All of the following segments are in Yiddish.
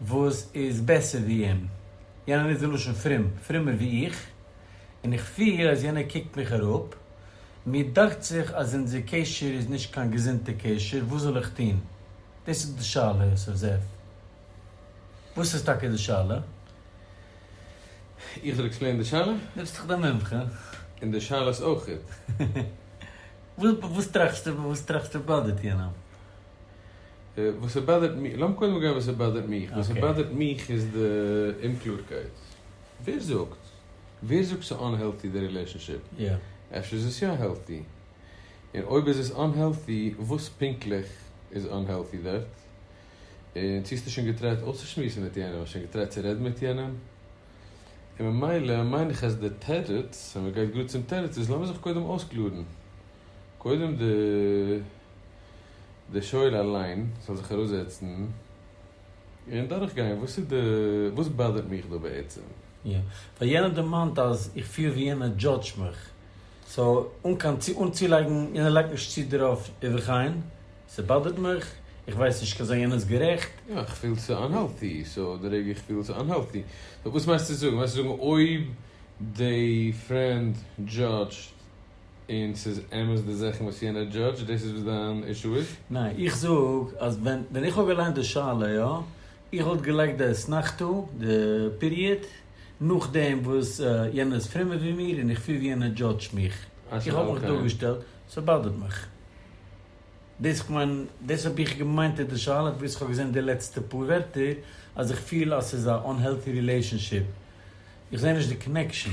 וואס איז בעסער ווי אים, יענער נוצט די לשון פרום, פרומער ווי איך, און איך פיר אז יענער קוקט מיך אראפ, מיר דאכט זיך אז אונזער קשר איז נישט קיין געזונטע קשר, וואס זאל איך טון? דאס איז די שאלה יוסף זאב, וואס איז טאקע די שאלה? איך זאל עקספלעינען די שאלה? דו ביסט דאך די מומחה. און די שאלות אויך. וואס טראכסטו וואס טראכסטו באדערט יענעם? וואס ס'באדערט מיך, לאמיר קודם גיין וואס ס'באדערט מיך, וואס ס'באדערט מיך איז די אומקלארקייט, ווער זאגט? ווער זאגט ס'איז אנהעלטי די רילעשאנשיפ? אפשר איז עס יא העלטי? און אויב איז עס אנהעלטי, וואס פונקטליך איז אנהעלטי דארט? און צו האסטו שוין געטרייט אויסצושמועסן מיט יענעם? האסט שוין געטרייט צו רעדן מיט יענעם? און ממילא מיין איך אז די תירוץ, אז מ'גייט גראד צום תירוץ, איז לאמיר זיך קודם אויסקלארן. קודם די די שואל אליין זאל זיך אראפזעצן און דורכגיין וואס איז די וואס באדערט מיך דא בעצם. יא, ווייל יענער דערמאנט אז איך פיל ווי יענער דזשאדזש מיך, סאו אן קיין צו אן צולייגן, יענער לייגט נישט צו דערויף ובכן, ס'באדערט מיך, איך ווייס נישט כ'זאל זיין יענער'ס גערעכט. יא, איך פיל ס'איז אנהעלטי, סאו די רגע איך פיל ס'איז אנהעלטי, סאו וואס מיינסטו זאגן? מיינסטו זאגן אויב די פרענד דזשאדזשט. און ס'איז אמת די זאכן וואס יענער דזשאדזש, דאס איז וואס דיין אישו איז? ניין, איך זאג אז ווען ווען איך האב געליינט די שאלה יא, איך וואלט געלייגט די אסנחתא, די פיריעד, נאכדעם וואס יענער איז פרומער ווי מיר און איך פיל ווי יענער דזשאדזשט מיך, איך האב מיך דאגעשטעלט, ס'באדערט מיך. דאס איך מיין, דאס האב איך געמיינט אין די שאלה, פארוואס איך האב געזען די לעצטע פאר ווערטער אז איך פיל אז ס'איז א אנהעלטי רילעישאנשיפ, איך זע נישט די קאנעקשאן.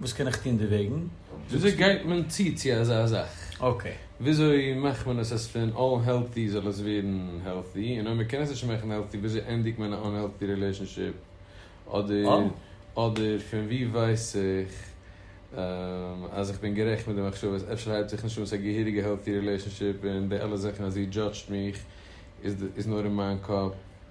וואס קען איך טון דערוועגן? וויאזוי גייט מען צו צו אזא זאך? אקעי. וויאזוי מאכט מען עס אז פון אנהעלטי זאל עס ווערן העלטי? און אויב מ'קען עס נישט מאכן העלטי וויאזוי ענדיגט מען א אנהעלטי רילעישאנשיפ? אדער אדער פון ווי ווייס איך אז איך בין גערעכט מיט די מחשבות? אפשר הייבט זיך נישט אן ס'איז א געהעריגע העלטי רילעישאנשיפ און די אלע זאכן אז זי דזשאדזשט מיך איז נאר אין מיין קאפ?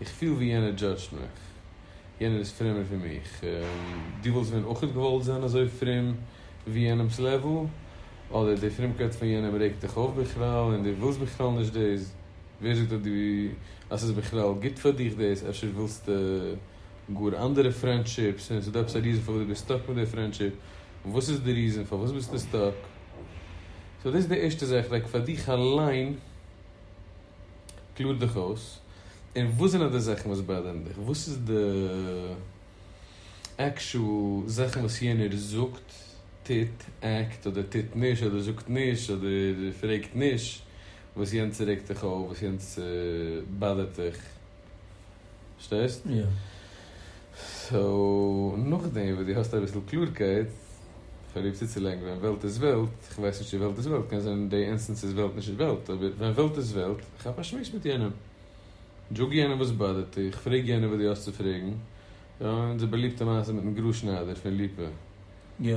איך פיל ווי יענער דזשאדזשט מיך. יענער איז פרומער פון מיך. דו וואלסט ווען אויך געוואלט זיין אזוי פרום ווי יענעמ'ס לעוועל? אדער די פרומקייט פון יענעם רעגט דיך אויף בכלל און דו ווילסט בכלל נישט דאס? ווער זאגט אז דו אז ס'איז בכלל גוט פאר דיך דאס? אפשר ווילסטו גאר אנדערע פרענדשיפס און ס'דא עפעס א ריזען פארוואס דו ביסט סטאק מיט די פרענדשיפ? וואס איז די ריזען פארוואס ביסטו סטאק? סאו דאס איז די ערשטע זאך, לייק פאר דיך אליין. קלאר דיך אויס, און וואס זענען די זאכן וואס באדערן דיך, וואס איז די עקשאל זאכן וואס יענער זאגט, טוט, עקט, אדער טוט נישט, אדער זאגט נישט, אדער פרעגט נישט, וואס יענצער רעגט דיך אויף, וואס יענצער באדערט דיך. פארשטייסט? יא. סאו נאכדעם וואס דו האסט אביסל קלארקייט, פראביר צוצולייגן ווען וועלט איז וועלט, איך ווייס נישט צו וועלט איז וועלט, קען זיין די אינסטענס איז וועלט נישט וועלט, אבער ווען וועלט איז וועלט, כאפ א שמועס מיט יענעם, זאג יענעם וואס באדערט דיך, פרעג יענעם וואס דו האסט צו פרעגן, אונזער באליבטע מעשה מיטן גראז שניידער פון ליפא. יא.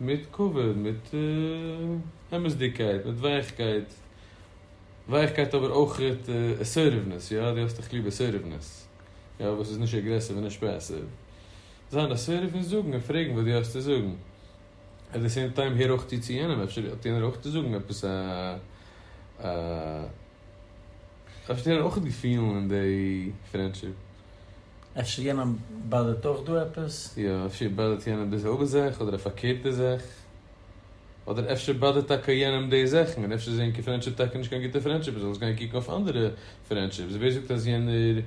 מיט כבוד, מיט אמת'דיגקייט, מיט ווייכקייט, ווייכקייט אבער אויך אסערטיוונעס, יא, דו האסט דאך ליב אסערטיוונעס, יא, וואס איז נישט אגרעסיוו און נישט פעסיוו, זיין אסערטיוו און זאגן און פרעגן וואס דו האסט צו זאגן, עט די סעים טיים הער אויך צו צו יענעם, אפשר האט יענער אויך צו זאגן עפעס א, אפשר האט יענער אויך געפילן אין די פרענדשיפ. אפשר יענעם באדערט אויך דא עפעס? יא, אפשר באדערט יענעם דאס אויך זעך, אדער א פארקערטע זעך. אדער אפשר באדערט טאקע יענעם די זעכן, און אפשר איז ענקער פרענדשיפ טאקע נישט קיין גוטע פרענדשיפ, מ'זאל עס גיין קוקן אויף אנדערע פרענדשיפס, ווער זאגט אז יענער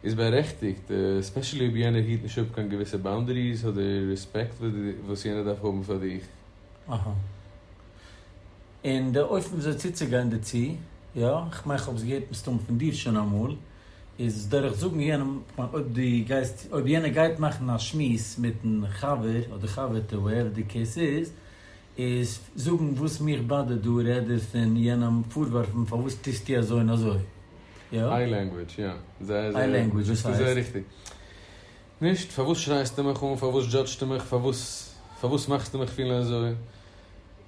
איז בארעכטיגט, עספעשעלי אויב יענער היט נישט אפ קיין געוויסע באונדעריס אדער רעספעקט וואס יענער דארף האבן פאר דיך. אהא. און די אופן וויאזוי צוצוגיין דערצו, יא, כ'מיין כ'האב עס געהערט מסתמא פון דיר שוין אמאל. איז דורך זאגן יענעם, כ'מיין אויב דו גייסט, אויב יענער גייט מאכן א שמועס מיטן חבר אדער חבר'טע וואטעווער די קעיס איז, איז זאגן וואס מיך באדערט דא רעד איך פון יענעם פארווארפן פארוואס טוסטו אזוי און אזוי, יא? איי לענגווידזש, יא. איי לענגווידזש, וואס הייסט? נישט, פארוואס שרייסטו מיך אן, פארוואס דזשאדזשטו מיך, פארוואס פארוואס מאכסטו מיך פילן אזוי,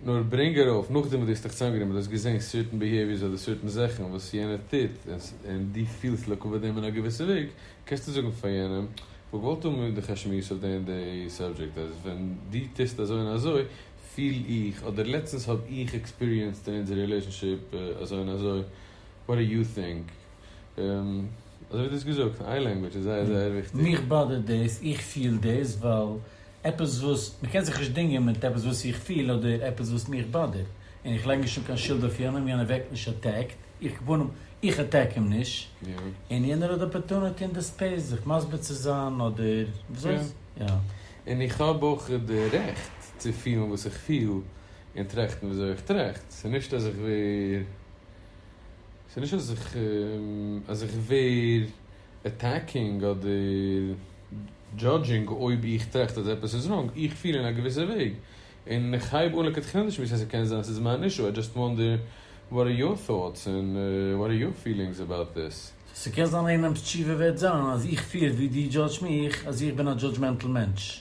נאר ברענג ארויף נאכדעם וואס דו האסט דיך צוזאמגענומען, דו האסט געזען סערטען ביהעיוויערס אדער סערטען זאכן וואס יענער טוט און דו פילסט לטובת דעם אין א געוויסע וועג, קענסטו זאגן פאר יענעם, כ'וואלט געוואלט האבן מיט דיך א שמועס אויף די און די סאבדזשעקט, אז ווען דו טוסט אזוי און אזוי פיל איך, אדער לעצטנס האב איך עקספיריענסד אין אונזער רילעישאנשיפ אזוי און אזוי, וואט דו יו טינק? אזוי ווי דו האסט געזאגט, איין לענגוויטש איז זייער זייער וויכטיג. מיך באדערט דאס, איך פיל דאס, ווייל עפעס וואס, מען קען זיך נישט דינגען מיט עפעס וואס איך פיל אדער עפעס וואס מיך באדערט, און איך לייג נישט אן קיין שולד אויף יענעם, יענער ווערט נישט אטעקט, איך כפנים, איך אטעק אים נישט, און יענער האט די אפערטונעטי און די ספעיס זיך מסביר צו זיין אדער וויאזוי, יא. און איך האב אויך די רעכט צו פילן וואס איך פיל און טראכטן וויאזוי איך טראכט, ס'נישט אז איך ווער. ס'איז נישט אז איך אז איך ווער עטעקינג אדער דזשאדזשינג אויב איך טראכט אז עפעס איז ראנג, איך פיל אין א געוויסע וועג און איך הייב אן לכתחילה נישט מיט ס'קען זיין ס'איז מיין אישו, איי דזשאסט וואנדער וואט אר יור טאטס און וואט אר יור פילינגס אבאוט דיס? ס'קען זיין איינעמס תשובה וועט זיין אז איך פיל ווי דו דזשאדזש מיך אז איך בין א דזשאדזשמענטל מענטש.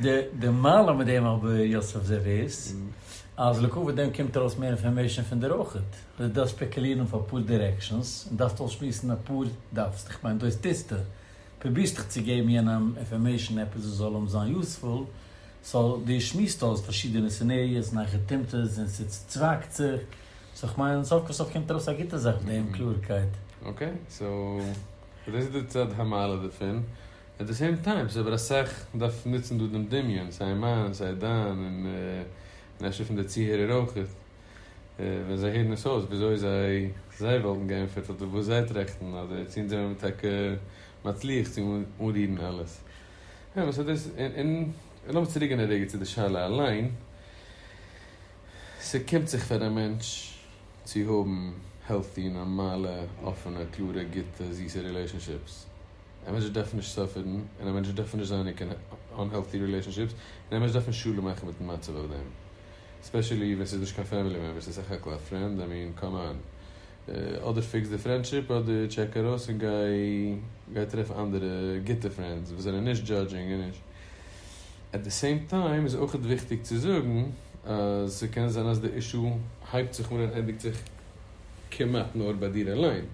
די מעלה מיט דעם רבי יוסף זאב איז אז לעקאווע דעם קומט ארויס מער אינפארמעישאן פון דיר אויכעט, דו דארפסט שפעקעלירן אויף אפאר דירעקשאנס און דארפסט אויסשמועסן אפאר, דארפסט, איך מיין דאס טוסטו, פרובירסט דיך צו געבן יענעם אינפארמעישאן עפעס וואס זאל אים זיין יוספול, סאו דו שמועסט אויס פארשידענע סינעריאס און אייכער טעמט עס און ס'צווייגט זיך, סאו איך מיין סוף כל סוף קומט ארויס א גוטע זאך מיט דעם קלארקייט. אקעי, סאו און דאס איז די צד המעלה דערפון, עט די סעים טיים ס'איז אבער אסאך דארף נוצן דא דעם דמיון סיי מיין סיי דיין און אפשר פון די צוהערער אויך ווען זיי הערן עס אויס וויאזוי זיי זיי וואלטן געענטפערט אדער וואס זיי טראכטן אדער צו אונז זעמיר טאקע מצליח צו אנרירן אלעס אמת און דאס און און לאמיר צוריקגיין א רגע צו די שאלה אליין. ס'קומט זיך פאר א מענטש צו האבן העלטי, נארמאלע, אפענע, קלארע, גוטע, זיסע רילעישאנשיפס. א מענטש דארף נישט סאפערן, און א מענטש דארף נישט זיין אין קיין אנהעלטי רילעישאנשיפס, און א מענטש דארף נישט שלום מאכן מיטן מצב אויף דעם. ספעשעלי ווען ס'איז נישט קיין פעמילי מעמבער, ס'איז סך הכל א פרענד, איי מין, קאם אן. אדער פיקס די פרענדשיפ, אדער טשעק ארויס און גיי טרעף אנדערע גוטע פרענדס וואס זענען נישט דזשאדזשינג און נישט. עט די סעים טיים איז אויכעט וויכטיג צו זאגן אז ס'קען זיין אז די אישו הייבט זיך אן און ענדיגט זיך כמעט נאר ביי דיר אליין.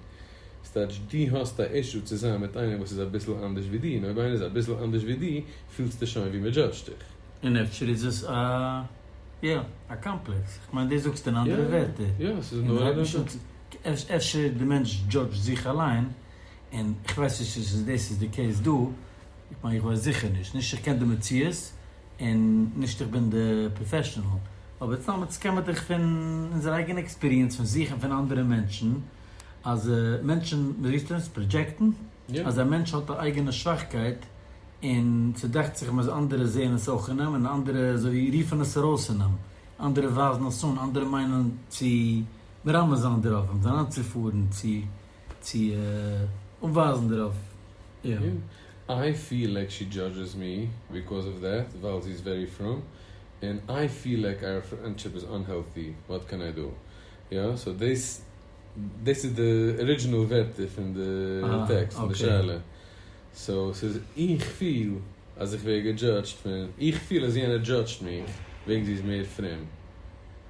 ס'טייטש דו האסט א אישו צו זיין מיט איינעם וואס איז אביסל אנדערש ווי דו און אויב איינער איז אביסל אנדערש ווי דו פילסטו שוין ווי מ'דזשאדזשט דיך. און אפשר איז עס א יא א קאמפלעקס, כ'מיין דאס זאגסטו אין אנדערע ווערטער, און הייב נישט אן צו אפשר די מענטש דזשאדזשט זיך אליין, און כ'ווייס נישט צו דאס איז די קעיס דא. איך מיין איך ווייס זיכער נישט, נישט איך קען די מציאות און נישט איך בין די פראפעשענעל, אבער סתם מיט סקעמעטער פון אונזער אייגענע עקספיריענס פון זוכן פון אנדערע מענטשן אז מענטשן מ'רופט עס פראדזשעקטן אז א מענטש האט א אייגענע שוואכקייט און ס'דאכט זיך אים אז אנדערע זעען עס אויך אין אים און אנדערע אזוי רופן עס ארויס אין אים, אנדערע ווייזן עס אן, אנדערע מיינען צו מרמז זיין דערויף, אים זיין אנצופארן צו צו אנווייזן דערויף אים. איי פיל לייק שי דזשאדזשעס מי ביקאוז אוו דעט ווייל זי איז ווערי פרום, און איי פיל לייק אייער פרענדשיפ איז אנהעלטי, וואט קען איי דא? יא? סאו דאס דאס איז די ארידזשינעל ווערטער פון די טעקסט און די שאלה. סאו ס'איז איך פיל אז איך ווער געדזשאדזשט פון, איך פיל אז יענער דזשאדזשט מיך וועגן זי איז מער פרום.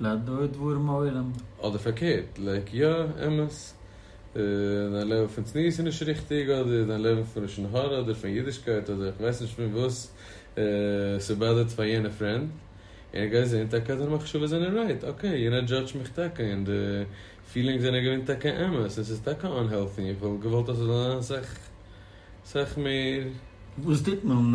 לדור דברים עולם. אדער פארקערט, לייק יא, אמת, דיין לעוועל פון צניעות איז נישט ריכטיג, אדער דיין לעוועל פון לשון הרע, אדער פון אידישקייט, אדער איך ווייס נישט פון וואס ס'באדערט פאר יענע פרענד, און איך גיי זעהן טאקע אז דיינע מחשבות זענען רייט, אקעי, יענער דזשאדזשט מיך טאקע, און די פילינגס זענען געווען טאקע אמת, און ס'איז טאקע אנהעלטי, איך וואלט געוואלט אז ס'זאל זיין אסאך אסאך מער. וואס טוט מען?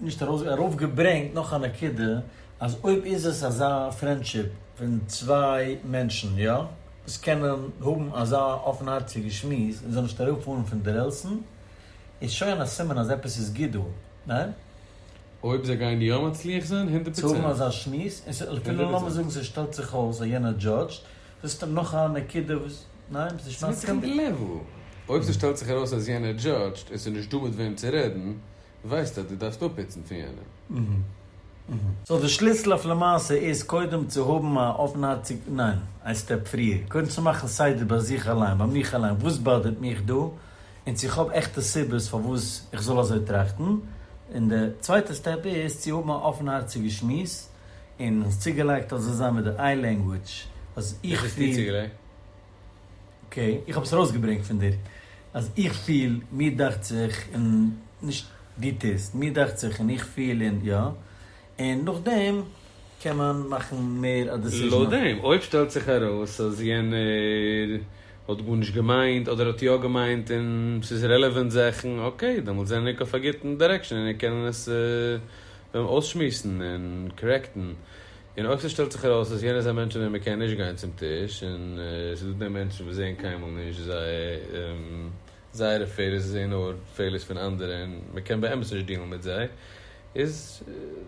נישט ארויס ארויף געברענגט נאך א נקודה אז אויב איז עס אזא פרענדשיפ פון צוויי מענטשן יא וואס קענען האבן אזא אפנהארציגע שמועס און זיי נישט אראפ פארן פון די רעלסן איז שוין א סימן אז עפעס איז גוט דא ניין? אויב זיי גייען יא מצליח זיין הונדערט צו האבן פראצענט. אזא שמועס און ס'איז אפילו לאמיר זאגן ס'איז שטעלט זיך אויס אז יענער דזשאדזשט זיסט נאך א נקודה וואס ניין ביסט נישט מסכים? ס'ווענדט זיך אין די לעוול אויב ס'שטעלט זיך ארויס אז יענער דזשאדזשט און ס'איז נישט דא מיט וועם צו רעדן ווייסט אז דו דארפסט אפפיצן פון יענעם. סאו די שליסל אויף למעשה איז קודם צו האבן א אפנהארציג ניין, איין סטעפ פריער, קודם צו מאכן סדר ביי זיך אליין, ביי מיך אליין, וואס באדערט מיך דא, און צו כ'האב עכטע סיבות פארוואס איך זאל אזוי טראכטן, און די צווייטע סטעפ איז צו האבן א אפנהארציגע שמועס, און האסט צוגעלייגט אז עס זיין מיט די איי לענגוויטש אז איך פיל. אקעי, איך האב עס ארויסגעברענגט פון דיר אז איך פיל, מיר דאכט זיך, און נישט דו טוסט, מיר דאכט זיך און איך פיל און יא, און נאכדעם קען מען מאכן מער א דעסיזשן אויף. נאכדעם אויב שטעלט זיך ארויס אז יענער האט גארנישט געמיינט אדער האט יא געמיינט און ס'איז רעלעווענט זאכן, אקעי, דעמאלטס זענען ענק אויף א גוטן דירעקשאן און ענק קענען עס אויסשמועסן און קארעקטן, און אויך ס'שטעלט זיך ארויס אז יענער איז א מענטש אן דעם מען קען נישט גיין צום טיש, און ס'איז דא די מענטשן וואס זעהן קיינמאל נישט זייערע פעלער, זיי זעהן נאר פעלערס פון אנדערע און מען קען באמת נישט דיעלן מיט זיי, איז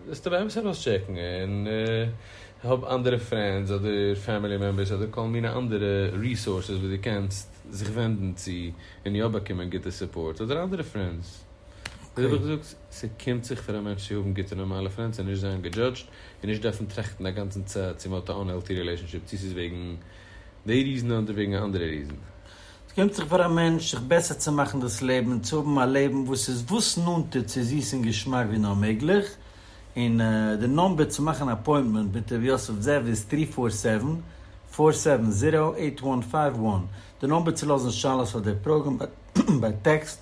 זאלסטו באמת ארויסטשעקן און האב אנדערע פרענדס אדער פעמילי מעמבערס אדער כל מיני אנדערע ריסארסעס וואס דו קענסט זיך ווענדן צו און יא באקומען גוטע סופארט, אדער אנדערע פרענדס. וויאזוי האב איך געזאגט, ס'קומט זיך פאר א מענטש צו האבן גוטע נארמאלע פרענדס און נישט זיין געדזשאדזשד און נישט דארפן טראכטן א גאנצן צ צו מען האט א אנהעלטי רילעישאנשיפ צו ס'איז וועגן די ריזן אדער וועגן א אנדערע ריזן. ס'געפינט זיך פאר א מענטש זיך בעסער צו מאכן דאס לעבן און צו האבן א לעבן וואס איז וואס נאנטער צו זיס און געשמאק ווי נאר מעגליך, און די נאמבער צו מאכן א אפוינטמענט מיט ר' יוסף זאב איז טרי פאר סעווען, פאר סעווען זירא, עיט וואן פייוו וואן, די נאמבער צו לאזן שאלות אדער פראגען ביי טעקסט